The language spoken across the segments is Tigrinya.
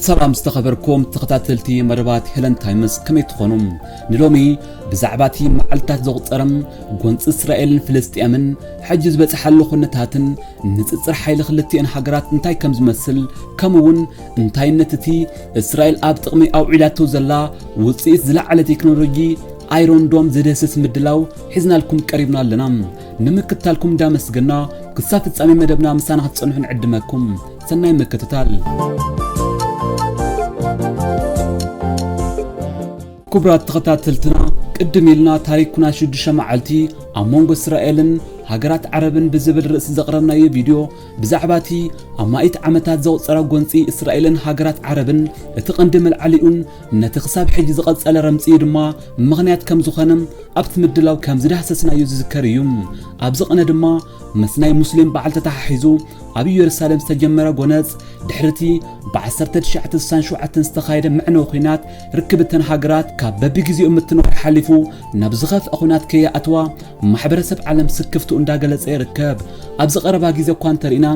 ሰላም ዝተኸበርኩም ተኸታተልቲ መደባት ሄለን ታይምስ ከመይ ትኾኑ ንሎሚ ብዛዕባ እቲ መዓልትታት ዘቑፀረ ጎንፂ እስራኤልን ፍልስጥኤምን ሕጂ ዝበፅሓሉ ኩነታትን ንፅፅር ሓይሊ ክልቲኤን ሃገራት እንታይ ከም ዝመስል ከምኡውን እንታይነት እቲ እስራኤል ኣብ ጥቕሚ ኣውዒላቶ ዘላ ውጽኢት ዝለዓለ ቴክኖሎጂ ኣይሮን ዶም ዘደህስስ ምድላው ሒዝናልኩም ቀሪብና ኣለና። ንምክትታልኩም እንዳመስገና ክሳብ ፍጻሜ መደብና ምሳና ክትጸንሑ ንዕድመኩም። ሰናይ ምክትታል። ክቡራት ተኸታተልትና ቅድም ኢልና ታሪክ ኩናት ሽዱሽተ መዓልቲ ኣብ መንጎ እስራኤልን ሃገራት ዓረብን ብዝብል ርእሲ ዘቕረብናዮ ቪድዮ ብዛዕባ እቲ ኣማኢት ዓመታት ዘቝጸረ ጐንጺ እስራኤልን ሃገራት ዓረብን፣ እቲ ቐንዲ መልዓሊኡን ነቲ ኽሳብ ሕጂ ዝቐጸለ ረምጺኡ ድማ ምኽንያት ከም ዝዀነ ኣብቲ ምድላው ከም ዝዳህሰስናዮ ዝዝከር ኢዩ። ኣብዚ ቕነ ድማ ምስ ናይ ሙስሊም በዓል ተተሓሒዙ ኣብ ኢየሩሳሌም ዝተጀመረ ጐነጽ፣ ድሕሪ እቲ ብ ዓሰርተ ትሽዓተ ስሳን ሸውዓተን ዝተኻየደ መዕነዊ ዂናት ርክብ እተን ሃገራት ካብ በብግዜኡ ምትንዃዕ ሓሊፉ ናብ ዝኸፍኣ ኹናት ከይኣትዋ ማሕበረሰብ ዓለም ስክፍትኡ እንዳገለጸ ይርከብ። ኣብዚ ቀረባ ግዜ እኳ እንተርኢና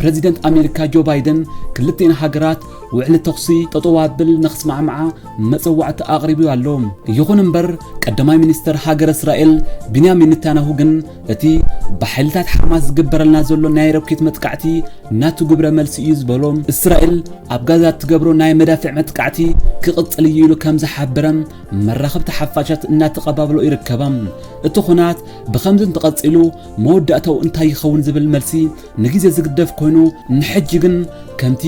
ፕረዚደንት ኣሜሪካ ጆ ባይደን ክልቲኤን ሃገራት ውዕሊ ተኹሲ ጠጠው ኣብል ንኽስማዕምዓ መጸዋዕታ ኣቕሪቡዩ ኣሎ። ይኹን እምበር ቀዳማይ ሚኒስተር ሃገረ እስራኤል ቢንያሚን ኔታንያሁ ግን እቲ ብሓይልታት ሓማስ ዝግበረልና ዘሎ ናይ ሮኬት መጥቃዕቲ ናቱ ግብረ መልሲ እዩ ዝበሎ እስራኤል ኣብ ጋዛ እትገብሮ ናይ መዳፍዕ መጥቃዕቲ ክቕጽል እዩ ኢሉ ከም ዝሓበረ መራኸብቲ ሓፋሻት እናተቐባብሎ ይርከባ። እቲ ኹናት ብኸምዚ እንተቐጺሉ መወዳእታኡ እንታይ ይኸውን ዝብል መልሲ ንግዜ ዝግደፍ ኮይኑ ንሕጂ ግን ከምቲ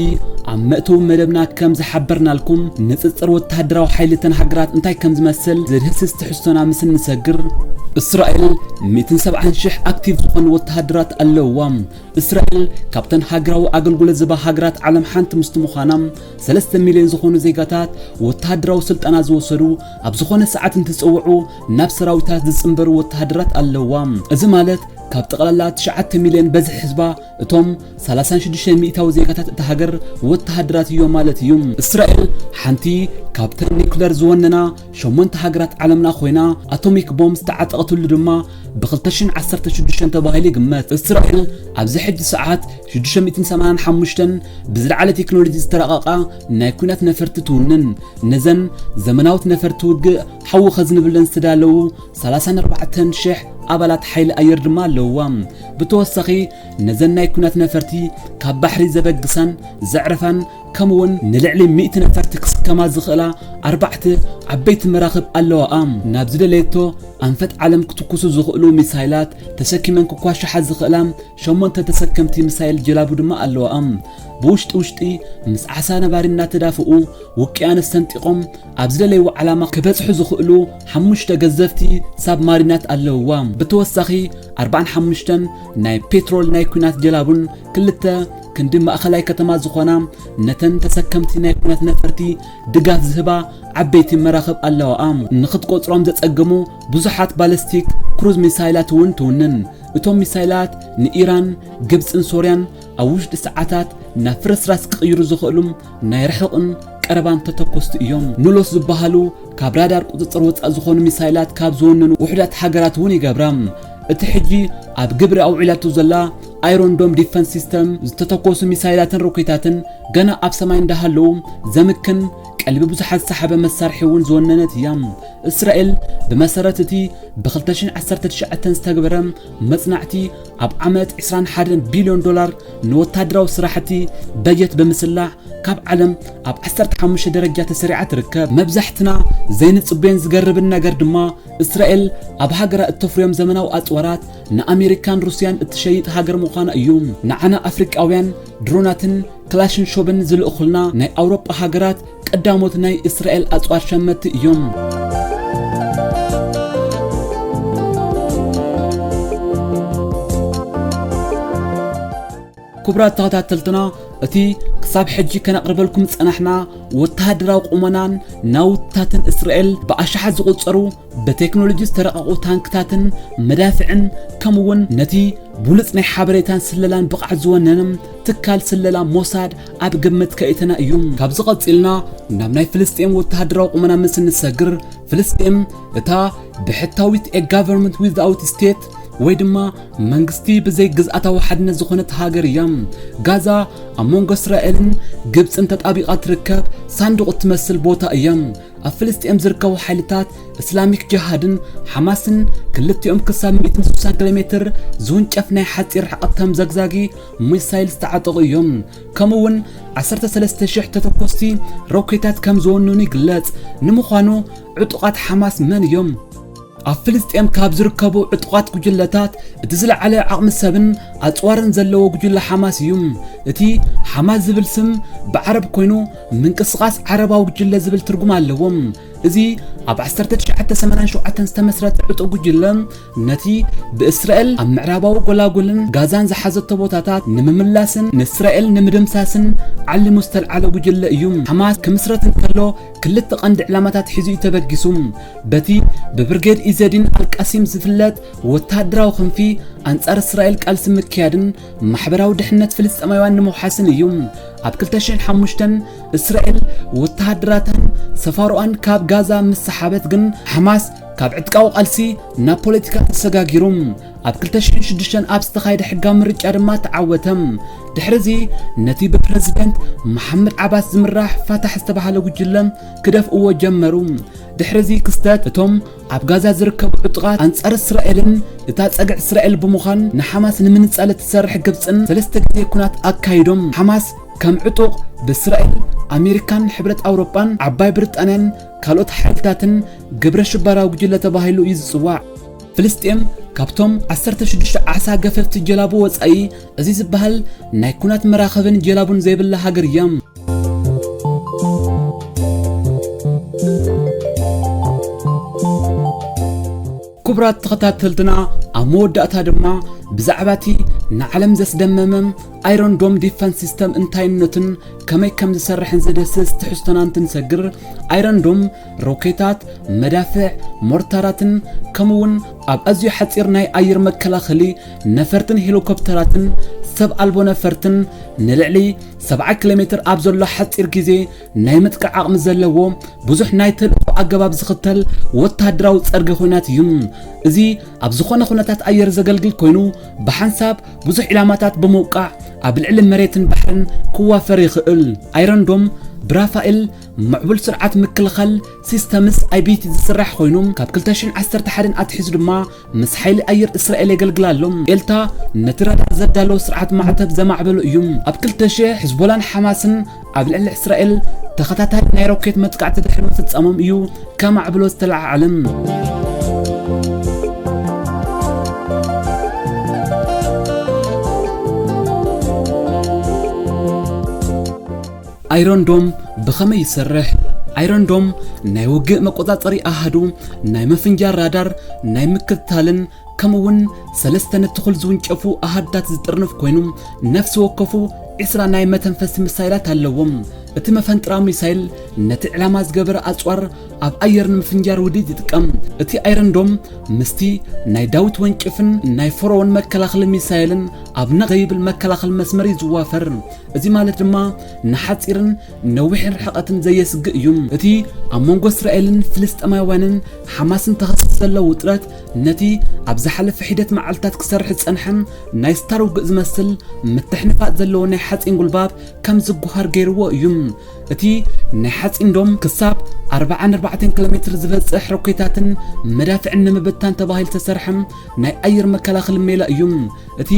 ኣብ መእተዊ መደብና ከም ዝሓበርናልኩም ንጽጽር ወተሃደራዊ ሓይሊ እተን ሃገራት እንታይ ከም ዝመስል ዝድህስስ ትሕዝቶና ምስ እንሰግር እስራኤል 170 ሽሕ ኣክቲቭ ዝኾኑ ወተሃደራት ኣለውዋ። እስራኤል ካብተን ሃገራዊ ኣገልግሎት ዝባ ሃገራት ዓለም ሓንቲ ምስቲ ምዃና ሰለስተ ሚልዮን ዝኾኑ ዜጋታት ወተሃደራዊ ስልጠና ዝወሰዱ ኣብ ዝኾነ ሰዓት እንትፀውዑ ናብ ሰራዊታት ዝፅምበሩ ወተሃደራት ኣለውዋ። እዚ ማለት ካብ ጠቕላላ ትሽዓተ ሚልዮን በዝሒ ህዝባ እቶም ሰላሳን ሽዱሽተን ሚእታዊ ዜጋታት እታ ሃገር ወተሃደራት እዮም ማለት እዩ። እስራኤል ሓንቲ ካብተን ኒኩለር ዝወነና ሸሞንተ ሃገራት ዓለምና ኮይና ኣቶሚክ ቦምብ ዝተዓጠቐትሉ ድማ ብኽልተ ሽሕን ዓሰርተ ሽዱሽተን ተባሂሉ ይግመት። እቲ ራዕዲ ኣብዚ ሕጂ ሰዓት ሽዱሽተ ሚእትን ሰማንያን ሓሙሽተን ብዝለዓለ ቴክኖሎጂ ዝተራቐቓ ናይ ኲናት ነፈርቲ ትውንን። ነዘን ዘመናውት ነፈርቲ ውግእ ሓዊ ከዝንብለን ዝተዳለዉ ሰላሳን ኣርባዕተን ሽሕ ኣባላት ሓይሊ ኣየር ድማ ኣለዉዋ። ብተወሳኺ ነዘን ናይ ኲናት ነፈርቲ ካብ ባሕሪ ዘበግሳን ዘዕርፋን ከምኡውን ንልዕሊ ሚእቲ ነፈርቲ ክስከማ ዝኽእላ ኣርባዕተ ዓበይቲ መራኽብ ኣለዋኣ። ናብ ዝደለየቶ ኣንፈት ዓለም ክትኩሱ ዝኽእሉ ሚሳይላት ተሰኪመን ክኳሻሓ ዝኽእላ ሸሞንተ ተሰከምቲ ሚሳይል ጀላቡ ድማ ኣለዋኣ። ብውሽጢ ውሽጢ ምስ ዓሳ ነባሪ እናተዳፍኡ ውቅያኖስ ሰንጢቖም ኣብ ዝደለይዎ ዓላማ ክበጽሑ ዝኽእሉ ሓሙሽተ ገዘፍቲ ሳብማሪናት ኣለውዋ። ብተወሳኺ ኣርባዓን ሓሙሽተን ናይ ፔትሮል ናይ ኲናት ጀላቡን ክልተ ክንዲ ማእኸላይ ከተማ ዝኾና ነተን ተሰከምቲ ናይ ኩነት ነፈርቲ ድጋፍ ዝህባ ዓበይቲ መራኽብ ኣለዋኣ። ንኽትቆጽሮም ዘጸግሙ ብዙሓት ባለስቲክ ክሩዝ ሚሳይላት እውን ትውንን። እቶም ሚሳይላት ንኢራን፣ ግብጽን ሶርያን ኣብ ውሽጢ ሰዓታት ናብ ፍርስራስ ክቕይሩ ዝኽእሉ ናይ ርሑቕን ቀረባን ተተኮስቲ እዮም። ንሎስ ዝበሃሉ ካብ ራዳር ቁጽጽር ወጻእ ዝኾኑ ሚሳይላት ካብ ዝወነኑ ውሑዳት ሃገራት እውን ይገብራ። እቲ ሕጂ ኣብ ግብሪ ኣውዒላቶ ዘላ ኣይሮን ዶም ዲፈንስ ሲስተም ዝተተኮሱ ሚሳይላትን ሮኬታትን ገና ኣብ ሰማይ እንዳሃለዉ ዘምክን ቀልቢ ብዙሓት ዝሰሓበ መሳርሒ እውን ዝወነነት እያ። እስራኤል ብመሰረት እቲ ብ2019 ዝተግበረ መጽናዕቲ ኣብ ዓመት 21 ቢልዮን ዶላር ንወታደራዊ ስራሕቲ በጀት ብምስላዕ ካብ ዓለም ኣብ 15 ደረጃ ተሰሪዓ ትርከብ መብዛሕትና ዘይንጽበዮን ዝገርብን ነገር ድማ እስራኤል ኣብ ሃገራ እተፍርዮም ዘመናዊ ኣጽዋራት ንኣሜሪካን ሩስያን እትሸይጥ ሃገር ምዃና እዩ ንዓና ኣፍሪቃውያን ድሮናትን ክላሽን ሾብን ዝልእኹልና ናይ ኣውሮጳ ሃገራት ቀዳሞት ናይ እስራኤል ኣጽዋር ሸመትቲ እዮም። ክቡራት ተኸታተልትና እቲ ክሳብ ሕጂ ከነቕርበልኩም ዝጸናሕና ወተሃደራዊ ቁመናን ናውትታትን እስራኤል ብኣሽሓት ዝቝጸሩ ብቴክኖሎጂ ዝተረቐቑ ታንክታትን መዳፍዕን ከምኡ'ውን ነቲ ብሉጽ ናይ ሓበሬታን ስለላን ብቕዓት ዝወነነ ትካል ስለላ ሞሳድ ኣብ ግምት ከኢትና እዩ። ካብዚ ቀጺልና ናብ ናይ ፍልስጤም ወተሃደራዊ ቁመና ምስ እንሰግር፣ ፍልስጤም እታ ብሕታዊት ኤ ጋቨርንመንት ዊዝኣውት ስቴት ወይ ድማ መንግስቲ ብዘይ ግዝኣታዊ ሓድነት ዝኾነት ሃገር እያ። ጋዛ ኣብ መንጎ እስራኤልን ግብጽን ተጣቢቓ ትርከብ ሳንዱቕ እትመስል ቦታ እያ። ኣብ ፍልስጤም ዝርከቡ ሓይልታት እስላሚክ ጀሃድን ሓማስን ክልቲኦም ክሳብ 160 ኪሎ ሜትር ዝውንጨፍ ናይ ሓፂር ርሕቐት ከም ዘግዛጊ ሚሳይል ዝተዓጠቑ እዮም ከምኡ እውን 13000 ተተኮስቲ ሮኬታት ከም ዝወነኑ ይግለጽ ንምዃኑ ዕጡቓት ሓማስ መን እዮም ኣብ ፍልስጤም ካብ ዝርከቡ ዕጡቓት ጉጅለታት እቲ ዝለዓለ ዓቕሚ ሰብን ኣጽዋርን ዘለዎ ጉጅለ ሓማስ እዩ። እቲ ሓማስ ዝብል ስም ብዓረብ ኮይኑ ምንቅስቓስ ዓረባዊ ጉጅለ ዝብል ትርጉም ኣለዎ። እዚ ኣብ 1987 ዝተመስረተ ዕጡቕ ጉጅለ ነቲ ብእስራኤል ኣብ ምዕራባዊ ጎላጉልን ጋዛን ዝሓዘቶ ቦታታት ንምምላስን ንእስራኤል ንምድምሳስን ዓሊሙ ዝተልዓለ ጉጅለ እዩ። ሓማስ ክምስረት እንከሎ ክልተ ቀንዲ ዕላማታት ሒዙ'ዩ ተበጊሱ። በቲ ብብርጌድ ኢዘዲን ኣልቃሲም ዝፍለጥ ወተሃደራዊ ክንፊ ኣንጻር እስራኤል ቃልሲ ምክያድን ማሕበራዊ ድሕነት ፍልስጤማውያን ንምውሓስን እዩ። ኣብ 2005 እስራኤል ወተሃደራታን ሰፋሮኣን ካብ ጋዛ ምስ ሰሓበት ግን ሓማስ ካብ ዕጥቃዊ ቃልሲ ናብ ፖለቲካ ተሰጋጊሩ። ኣብ ክልተ ሽሕን ሽዱሽተን ኣብ ዝተኻየደ ሕጋዊ ምርጫ ድማ ተዓወተ። ድሕርዚ ነቲ ብፕረዚደንት መሓመድ ዓባስ ዝምራሕ ፋታሕ ዝተባህለ ጉጅለ ክደፍእዎ ጀመሩ። ድሕርዚ ክስተት እቶም ኣብ ጋዛ ዝርከቡ ዕጡቓት ኣንጻር እስራኤልን እታ ጸግዒ እስራኤል ብምዃን ንሓማስ ንምንጻል እትሰርሕ ግብጽን ሰለስተ ግዜ ኩናት ኣካይዶም። ሓማስ ከም ዕጡቕ ብእስራኤል፣ ኣሜሪካን ሕብረት ኣውሮጳን ዓባይ ብሪጣንያን ካልኦት ሓይልታትን ግብረ ሽበራዊ ጉጅለ ተባሂሉ እዩ ዝጽዋዕ። ፍልስጤም ካብቶም ዓሰርተ ሽዱሽተ ዓሳ ገፈፍቲ ጀላቡ ወጻኢ እዚ ዝበሃል ናይ ኩናት መራኸብን ጀላቡን ዘይብላ ሃገር እያ። ክቡራት ተኸታተልትና ኣብ መወዳእታ ድማ ብዛዕባ እቲ ንዓለም ዘስደመመ ኣይሮን ዶም ዲፈንስ ሲስተም እንታይነቱን ከመይ ከም ዝሰርሕን ዝድህስስ ትሕዝቶና እንትንሰግር ኣይሮን ዶም ሮኬታት፣ መዳፍዕ፣ ሞርታራትን ከምኡ'ውን ኣብ ኣዝዩ ሓጺር ናይ ኣየር መከላኸሊ ነፈርትን ሄሊኮፕተራትን ሰብ ኣልቦ ነፈርትን ንልዕሊ ሰብዓ ኪሎሜትር ኣብ ዘሎ ሓጺር ግዜ ናይ ምጥቃዕ ዓቕሚ ዘለዎ ብዙሕ ናይ ተልእኮ ኣገባብ ዝኽተል ወተሃደራዊ ጸርጊ ኲናት እዩ። እዚ ኣብ ዝኾነ ኩነታት ኣየር ዘገልግል ኮይኑ ብሓንሳብ ብዙሕ ዒላማታት ብምውቃዕ ኣብ ልዕሊ መሬትን ባሕርን ክዋፈር ይኽእል። ኣይረንዶም ብራፋኤል ምዕቡል ስርዓት ምክልኻል፣ Systems፣ IBT ዝስራሕ ኮይኑ፣ ካብ ክልተ ሽሕን ዓሰርተ ሓደን ኣትሒዙ ድማ ምስ ሓይሊ ኣየር እስራኤል የገልግል ኣሎ። ኤልታ ነቲ ራዳር ዘዳለዎ ስርዓት ማዕተብ ዘማዕበሎ እዩ። ኣብ ክልተ ሽሕ፣ ሕዝቦላን ሓማስን ኣብ ልዕሊ እስራኤል ተኸታታሊ ናይ ሮኬት መጥቃዕቲ ድሕሪ ምፍጻሞም እዩ ከማዕብሎ ዝተለዓዓለ። ኣይሮን ዶም ብኸመይ ይሰርሕ? ኣይሮን ዶም ናይ ውግእ መቆጻጸሪ ኣሃዱ፣ ናይ ምፍንጃር ራዳር፣ ናይ ምክትታልን ከምኡ'ውን ሰለስተ ንትኹል ዝውንጨፉ ኣሃድታት ዝጥርንፍ ኮይኑ፣ ነፍሲ ወከፉ ዒስራ ናይ መተንፈሲ ምሳይላት ኣለዎ። እቲ መፈንጥራ ሚሳይል ነቲ ዕላማ ዝገበረ ኣጽዋር ኣብ ኣየር ንምፍንጃር ውዲት ይጥቀም። እቲ ኣይረን ዶም ምስቲ ናይ ዳዊት ወንጭፍን ናይ ፈርኦን መከላኸሊ ሚሳይልን ኣብ ነቕ ዘይብል መከላኸሊ መስመር እዩ ዝዋፈር። እዚ ማለት ድማ ንሓጺርን ነዊሕን ርሕቐትን ዘየስግእ እዩ። እቲ ኣብ መንጎ እስራኤልን ፍልስጤማውያንን ሓማስን ተኸሲቱ ዘሎ ውጥረት ነቲ ኣብ ዝሓለፈ ሒደት መዓልትታት ክሰርሕ ዝጸንሐ ናይ ስታር ውግእ ዝመስል ምትሕንፋጽ ዘለዎ ናይ ሓጺን ጉልባብ ከም ዝጎሃር ገይርዎ እዩ። እቲ ናይ ሓጺን ዶም ክሳብ ኣርብዓን ኣርባዕተን ኪሎ ሜትር ዝበጽሕ ሮኬታትን መዳፍዕን ንምብታን ተባሂሉ ዝተሰርሐ ናይ ኣየር መከላኸሊ ሜላ እዩ። እቲ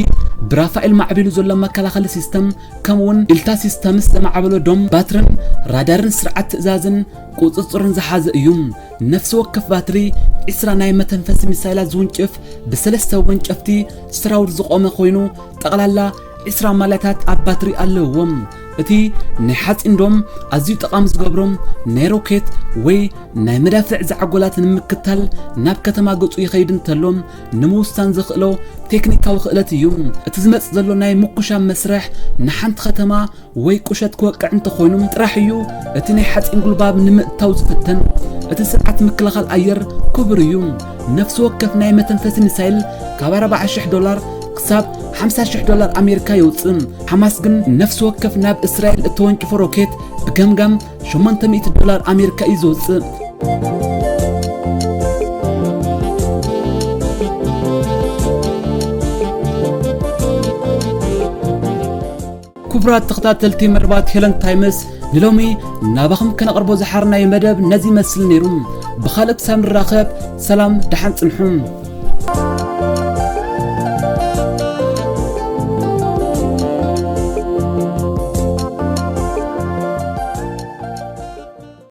ብራፋኤል ማዕቢሉ ዘሎ መከላኸሊ ሲስተም ከምኡውን ኢልታ ሲስተምስ ዘማዕበሎ ዶም ባትርን ራዳርን ስርዓት ትእዛዝን ቁፅፅርን ዝሓዘ እዩ። ነፍሲ ወከፍ ባትሪ ዒስራ ናይ መተንፈሲ ሚሳይላት ዝውንጭፍ ብሰለስተ ወንጨፍቲ ሰራውር ዝቖመ ኮይኑ ጠቕላላ ዒስራ ማልያታት ኣብ ባትሪ ኣለዎም። እቲ ናይ ሓፂን ዶም ኣዝዩ ጠቓሚ ዝገብሮም ናይ ሮኬት ወይ ናይ መዳፍዕ ዛዕጎላት ንምክታል ናብ ከተማ ገፁ ይኸይድ እንተሎ ንምውሳን ዘኽእሎ ቴክኒካዊ ክእለት እዩ። እቲ ዝመጽእ ዘሎ ናይ ምኩሻም መስርሕ ንሓንቲ ከተማ ወይ ቁሸት ክወቅዕ እንተኾይኑ ጥራሕ እዩ እቲ ናይ ሓጺን ጉልባብ ንምእታው ዝፍተን። እቲ ስርዓት ምክልኻል ኣየር ክቡር እዩ። ነፍሲ ወከፍ ናይ መተንፈሲ ሚሳይል ካብ ኣርባዓ ሽሕ ዶላር ክሳብ ሓምሳ ሽሕ ዶላር ኣሜሪካ የውጽእ። ሓማስ ግን ነፍሲ ወከፍ ናብ እስራኤል እተወንጭፎ ሮኬት ብገምጋም ሸሞንተ ሚእቲ ዶላር ኣሜሪካ እዩ ዘውፅእ ክቡራት ተኸታተልቲ መርባት ሄለን ታይምስ ንሎሚ ናባኹም ከነቕርቦ ዝሓርናዮ መደብ ነዚ ይመስል ነይሩ ብኻልእ ክሳብ ንራኸብ ሰላም ደሓን ጽንሑ።